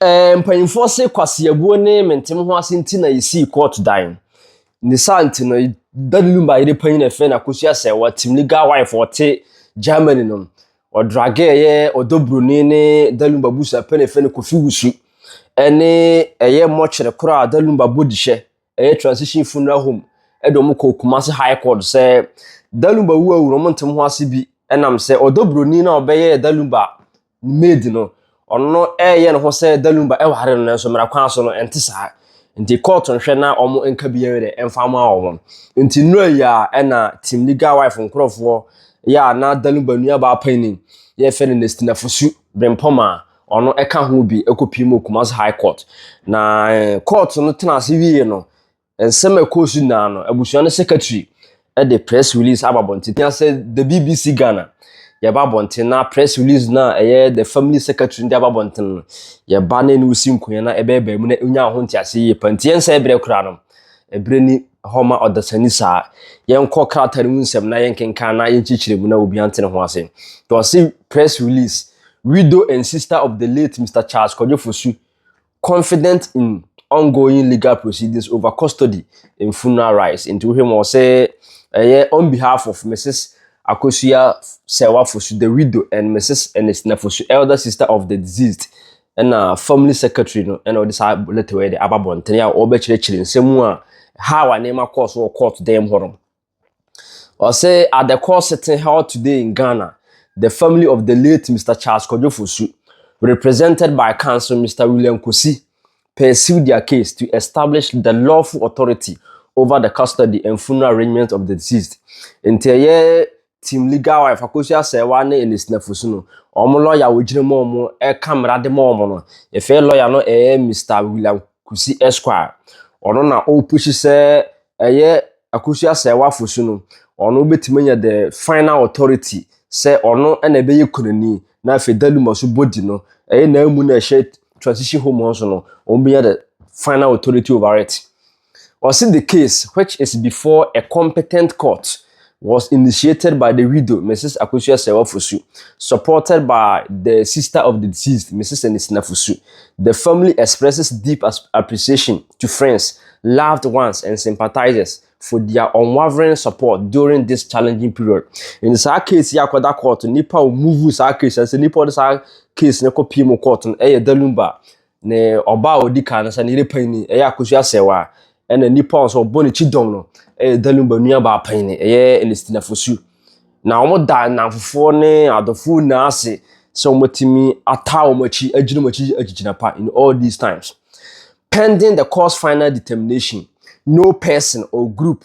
Ɛɛ mpanyinfoɔ se kwaseabuo ne mentem ho ase nti na yɛsii kɔɔto dan. Ne saa nti no, da no lumba yere panyin ɛfɛ na kosua sɛ wɔtim legal wife ɔte Germany no. Ɔdrage ɛyɛ ɔdɔ broni ne da lumba busua pɛ na ɛfɛ no Kofi Wusu. Ɛne ɛyɛ mmɔkyere koro a da lumba bɔ dihyɛ ɛyɛ transition funeral home ɛde wɔn kɔɔ Kumasi High Court sɛ da lumba wu awu no wɔn ntem ho ase bi ɛnam sɛ ɔdɔ broni no a ɔbɛyɛɛ da lumba ne maid no, ɔno no ɛyɛ ne ho sɛ Dalumba ɛware no nanso mmara kwan so no ɛnte saa. Nti court nhwɛ na wɔn nka biara dɛ ɛmfa mma wɔn. Nti nnura yi a ɛna Team Legal Wife nkorɔfoɔ yɛ a na Dalumba nuabaa panin yɛfrɛ no Nestina Fosu Brempɔm a ɔno ɛka ho bi ɛkɔ pii mu wɔ Kumasi High Court. Na court no tena ase wie no, Nsɛm a ɛkɔɔ so nyinaa no, abusua no secretary de press release aba abɔnten. Tia sɛ The BBC Ghana yɛba abɔnten na press release no a ɛyɛ the family secretary no de aba abɔnten no, yɛba na ɛne wo si nkonnwa na ɛbɛyɛ baa mu na ɛnya ho nteaseɛ yie pa. Nti yɛnsɛe berɛ koraa no, ɛberɛ ni hɔ ma ɔdasani saa. Yɛnkɔ krataa no mu nsɛm na yɛnkenkan na yɛnkyerɛkyerɛ mu na obiara nte ne ho ase. Nti wɔse press release, Widow and sister of the late Mister Charles Kwadwo Fosu confident in ongoing legal proceedings over custody in funeral rights. Nti wohwɛ mu ɔsɛ ɛyɛ on behalf of Mrs. Akosua Sewa Fosu, the widow, and Mrs. Ernestina Fosu, elder sister of the deceased. Ɛna family secretary no ɛna ɔde saa letter wɔ yɛ de aba bɔntene a ɔbɛkyerɛkyerɛ nsɛm a how a nneɛma kɔɔ so wɔ court dan mu hɔ no. Ɔse at the call sitting held today in Ghana, the family of the late Mister Charles Kwadwo Fosu, represented by counsel Mister William Kosi, pursued their case to establish the lawful authority over the custody and funeral arrangements of the deceased. Nti ɛyɛ Team Legal Wife, Akosua Asɛɛwa ne Elisina Fosu no, wɔn lawyer a wɔgyina mu a wɔka mmara de ma wɔn no, yɛfrɛ lawyer no ɛyɛ Mister William Kosi Esquire. Ɔno na ɔrepushi sɛ ɛyɛ Akosua Sɛɛwafo so no, ɔno betumi anya the final authority sɛ ɔno na ɛbɛyɛ kunani na afei Daluma so body no ɛyɛ n'amu na ɛhyɛ transition home hɔ so no, wɔn bɛnya the final authority over it. Ɔsi the case which is before a competent court was initiated by the widow, Mrs. Akosua Serwaa Fosu, supported by the sister of the deceased, Mrs. Anisina Fosu. The family expresses deep appreciation to friends, loved ones, and sympathizers for their unwavering support during this challenging period. In saa case yi akɔda court nipa a wɔmuvu saa case sɛ nipa a wɔde saa case no kɔpie mu court no ɛyɛ Dalumba Ne ɔba a ɔdi kan no sɛ ne yere panyin ni, ɛyɛ akosua sɛw a ɛna nnipa a ɔsɛ ɔbɔ ne kyi dɔm no ɛyɛ Dalumba nuabaa panyin, ɛyɛ Ernestina Fosu. Na wɔda nnamfofoɔ ne adɔfoɔ nyinaa ase sɛ wɔatumi ataa wɔn akyi, agyina wɔn akyi agyigyina pa in all these times. Pending the court's final determination, no person or group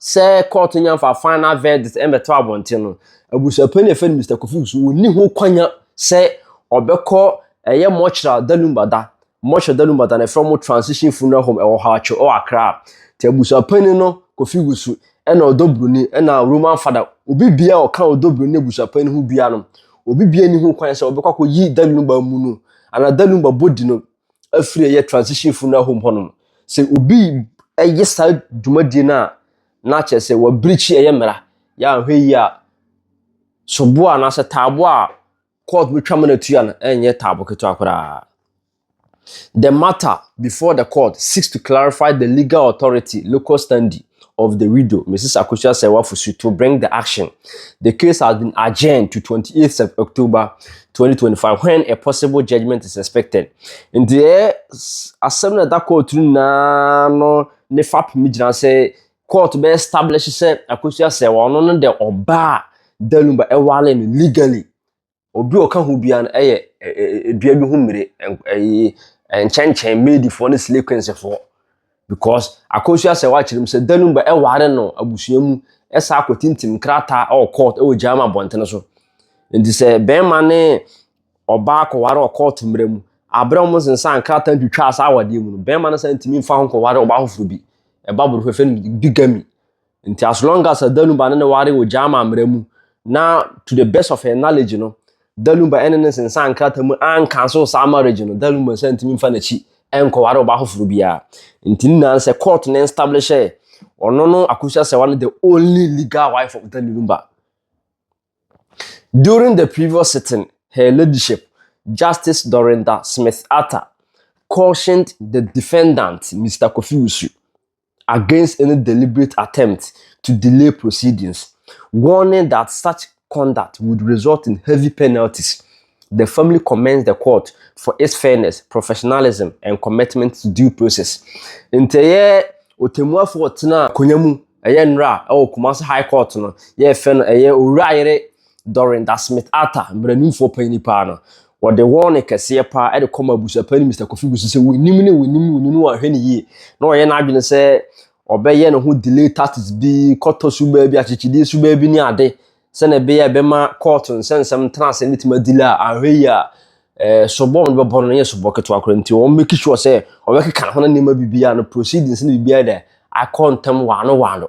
sɛ kɔɔto nya mfa final verdict ɛmɛto abɔnten no abusuapɛn na ɛfɛ no Mr. Kofi so wɔnni ho kwanya sɛ ɔbɛkɔ ɛyɛ mɔkyerɛ dalumbada mɔkyerɛ dalumbada na ɛfrɛ mo transition funeral home ɛwɔ hɔ atwo ɛwɔ akra nti abusuapɛn no Kofi Wusu ɛna ɔdɔ broni ɛna Roman fada obi bia ɔka ɔdɔ broni na abusuapɛn no ho bia no obi bia ni ho kwan sɛ ɔbɛkɔ akɔ yi dalumba mu no ana dalumba body no afiri a ɛyɛ transition funeral home hɔ nom sɛ obi ɛyɛ saa dwumadie no a na kyerɛ sɛ wɔabirikyi ɛyɛ mmara yɛ ahwɛ yi a soboɔ anaasɛ taabo a court bɛtwa ma no atua no ɛnyɛ taabo ketewa koraa the matter before the court seeks to clarify the legal authority local standing of the widow, Mrs. Akosua Serwafosu, to bring the action. The case has been adjourned to 28th October 2025 when a possible judgment is expected. Nti ɛ asɛm na ɛda court no nyinaa no ne fapem gyina sɛ court bɛ establish sɛ Akosua Serwa ɔno no de ɔbaa Daluba ɛwale no legally Obi a ɔka ho biara no yɛ dua bi ho mmire, ɛyi nkyɛnkyɛn maidfoɔ ne slay queensfoɔ because akɔnhyia sɛ wakyerɛ mu sɛ da no ba ɛware no abusua mu ɛsa akɔ tintim krataa ɛwɔ court ɛwɔ gyaama abɔntene so nti sɛ bɛrima ne ɔbaa kɔware wɔ court mmerɛ mu aberɛ wɔn nsensan krataa ntwitwa saa awadeɛ mu no bɛrima no sɛ ntumi mfa ho nkɔware ɔbaa foforɔ bi ɛba borɔfɛfɛ no bigamy Nti as long as Danuba ne ne ware wɔ Gyama mmara mu na to the best of her knowledge no Danuba ɛne ne nsensan nkrata mu ankanso saa marriage no Danuba nsa ntumi mfa n'akyi ɛnkɔware ɔbaa foforɔ biara. Nti ne nyinaa no sɛ court no enstablishe ɔno no Akusu Asewa ne the only legal wife of Danuba. During the previous sitting Her Ladyship Justice Dorinda Smith-Arthur cautioned the defendant Mister Kofi Wusu, against any deliberate attempt to delay proceedings, warning that such conduct would result in heavy penalties, the family commends the court for its fairness, professionalism and commitment to due process. Nti ɛyɛ ɔtɛmmuafoɔ ɔtena akonnwa mu ɛyɛ nnora ɛwɔ Kumasi High Court no yɛfɛ no ɛyɛ Owura Ayere Dorinda Smith Arthur, mmaranimfoɔ panyin paa no, wɔde wɔn kɛseɛ paa de kɔma abusuapani Mister Kofi Busu sɛ wonim ne wonim wonim ne wɔahwɛ ne yie na ɔyɛ n'adwene sɛ ɔbɛyɛ ne ho delay tactics bi, kɔtɔ subaa bi, akyekyedeɛ subaa bi ne ade sɛnea ɛbɛyɛ a ɛbɛma kɔɔto nsɛnsɛm ntena ase no bɛtumi adelay a anhwɛ yie a eh, sobɔ no bɛbɔ no yɛ sobɔ ketewa koraa nti wɔn make sure sɛ wɔbɛkeka ho no nneɛma biribiara no proceedings no biribiara dɛ akɔ ntɛm waano waano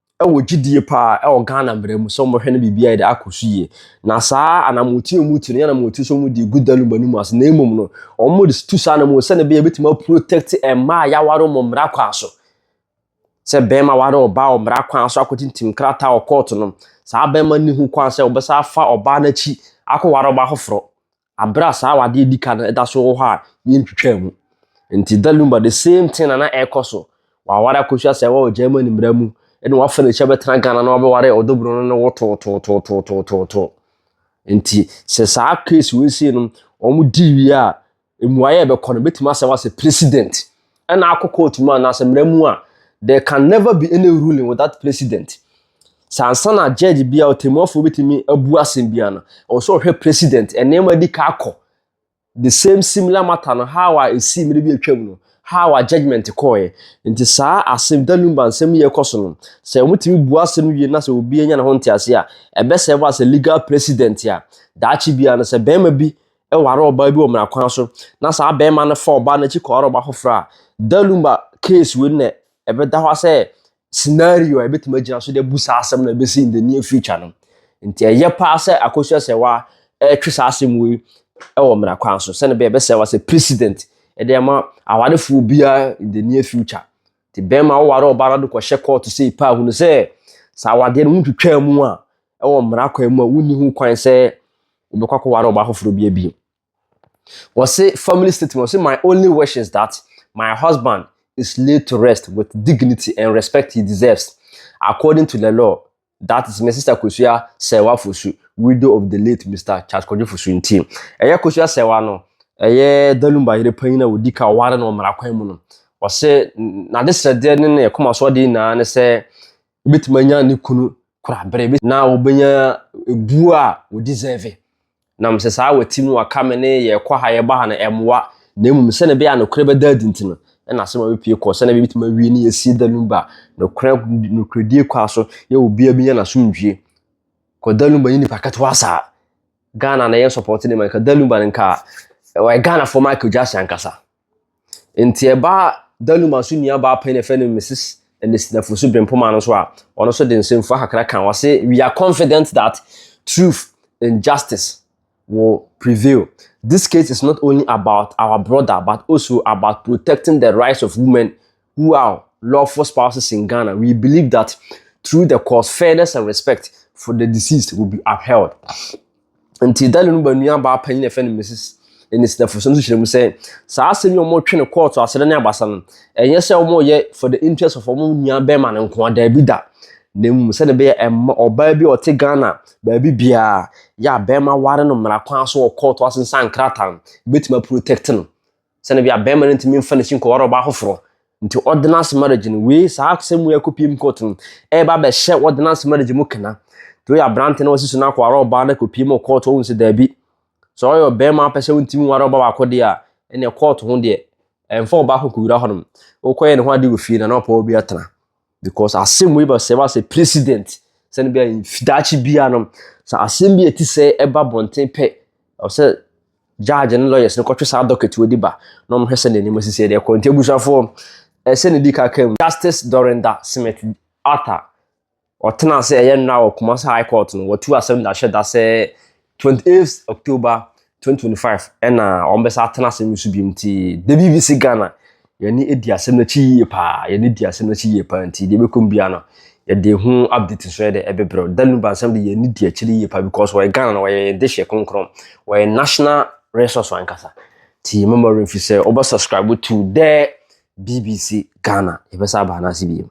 wɔ gyidie paa wɔ Ghana mmara mu sɛ wɔbɛhwɛ na biribiara de akɔ so yie. Na saa anamoti a wɔtu no yɛ anamoti sɛ wɔde gu daluma no mu ase na mmom no wɔde tu saa anamɔ sɛ na bɛyɛ bɛtumi aprotect mmaa a yɛaware wɔn mmara kwan so. Sɛ bɛrima ware ɔbaa wɔ mmara kwan so akɔtintim krataa wɔ kɔɔto no, saa bɛrima no ho kwan sɛ wɔbɛsa afa ɔbaa no akyi akɔware ɔbaa foforɔ. aber a saa awade a edzi kan no da so wɔ hɔ a yenntwitwaa mu. Ntsi dɛ Lumba the same thing na na ɛrokɔ so. Ɔawar akosua sɛ ɔwɔ Germany mbra mu na ɔafa n'ekyir abɛtsena Ghana na ɔabɛwar ɔdɔbor no no wotootootootootoo. Ntsi sɛ saa case wei sei no wɔdzi wie a, mbuae a ɛbɛkɔ no, bɛtumi asɛ wo asɛ president ɛna akɔ court mu anaasɛ mmara mu a there can never be any ruling without president sɛ ansa na judge bi a ɔtɛmuafoɔ bɛtumi abu asɛm bi ano ɔwɔ sɛ ɔhwɛ president nneɛma di ka akɔ the same similar matter no how a ɛsii mmere bi atwam no how a judgment kɔɔɛ nti saa asɛm danumba nsɛm yɛ kɔ so no sɛ wɔtumi bu asɛm wie na sɛ obi anya ne ho ntease a ɛbɛsɛ ba sɛ legal president a daakye bia no sɛ bɛrima bi waree ɔbaa bi wɔ mmara kwan so na saa barima no fa ɔbaa no akyi kɔware ɔbaa foforɔ a, Dalumba case wei na ɛbɛda hɔ sɛ scenario a ɛbɛtumi agyina so de abu saa asɛm na ɛbɛsi in the near future no. Nti ɛyɛ paa sɛ Akosua Sɛwa ɛretwe saa asɛm wei wɔ mmara kwan so sɛne bɛyɛ bɛsɛ wa sɛ precedent ɛde ama awarefoɔ biara in the near future. Nti bɛrima woware ɔbaa no de kɔhyɛ kɔɔto sei paa hunu sɛ saa awadeɛ no ho twitwaa mu a wɔ mmara kwan mu a wonni ho kwan sɛ wɔbɛkɔ akɔware ɔbaa foforɔ bi abiem. Wɔse family statement, wɔse my only wish is that my husband is laid to rest with dignity and respect he deserves according to the law that is my sister Kosua Sɛwa Fosu, widow of the late Mr. Charles Kwadwo Fosu nti. Ɛyɛ Kosua Sɛwa no, ɛyɛ Dalumba yere panyin a wɔdi ka ɔware no wɔ mmara kwan mu no. Wɔse n'adesrɛdeɛ ne ne koma so adeɛ nyinaa ne sɛ Obetumi anya ne kunu korabere. Na obenya ebu a ɔdeserve. Na mesɛ saa a wati mu aka me ne yɛn kɔ ha yɛn ba ha no ɛmoa. Na mmom sɛnea ɛbɛyɛ a nokorɛ bɛda adi nti no ɛna asɛm a mepue kɔ sɛnea ɛbɛyɛ betumi awie ne yɛasie da no ba nokorɛ nokorɛdie kwa so yɛ obiara benya n'asomdwie. Kɔ da no ba nye nipa ketewa saa. Ghana na yɛn support ne ma nka da no ba no nka ɔyɛ Ghanafoɔ Michael Jackson ankasa. Nti ɛbaa Danuma so nua baa pɛn a yɛfrɛ no Mrs. Ernestine Afosu Brempoma no so a, ɔno so de nsɛmfua kakra ka. Ɔse, We are confident that truth and justice will prevail. This case is not only about our brother but also about protecting the rights of women who are lawful spouses in Ghana, we believe that through the course, fairness and respect for the deceased will be upheld. Nti Daniel no ba nua baa panyin na ɛfɛ no Mrs. Enis Nefo so no kyerɛ mu sɛ saa asɛm yi wɔn twe no kɔɔto asɛrɛ ne abasa no ɛnyɛ sɛ wɔn yɛ for the interest of wɔn nua bɛrima no nko adaabi da na mmom sɛdeɛ ɛbɛyɛ ɛma ɔbaa bi a ɔte Ghana baabi biara yɛ a bɛrima ware no mmara kwan so wɔ kɔɔto ase nsa nkrataa no ebetumi aprotect no sɛnɛ bia bɛrima no ntumi mfa n'akyi nkɔware ɔbaa foforɔ nti ordinance marriage no wei saa asɛm mu ɛkɔ pm court no ɛba bɛhyɛ ordinance marriage mu kena nti woyɛ aberante na wasi so no akɔware ɔbaa no kɔ pm court ɔhu sɛ daabi sɛ ɔyɛ ɔbɛrima apɛ sɛ wontumi ware ɔba baako deɛ a ɛneɛ court ho deɛ ɛmfa ɔbaako kɔwura hɔnom wokɔyɛ ne ho ade wɔ fie na na ɔpɛ wɔ bi atena Because asɛm wei ba sɛ ba sɛ president sɛ no bia daakye bia no sɛ asɛm bi ɛti sɛ ɛba bɔnten pɛ ɔsɛ judge ne lawyers no kɔtwe saa docket wɔ di ba na ɔmo hwɛ sɛ n'anim asisi ɛde ɛkɔ nti abusuafoɔ ɛsɛ ne di kaka mu justice dorinda smith arthur ɔtena sɛ ɛyɛ nnora wɔ kumasa high court no wɔtu asɛm da hyɛ da sɛ Twenty eighth October twenty twenty five ɛna wɔn bɛsa atena asɛm no so bi nti the BBC Ghana yɛne edi asɛm no akyi yie paa yɛne di asɛm no akyi yie paa nti deɛ ɛbɛkɔ mu biara no yɛde ho update nso yɛde ɛbɛbrɛ da nuba nsɛm de yɛne di akyire yie paa because wɔyɛ Ghana no wɔyɛ yɛn dehyɛ kronkron wɔyɛ national resource ankasa ti mɛmɔ remfi sɛ wɔbɛ subscribe to the BBC Ghana yɛbɛsa abaa no ase biem.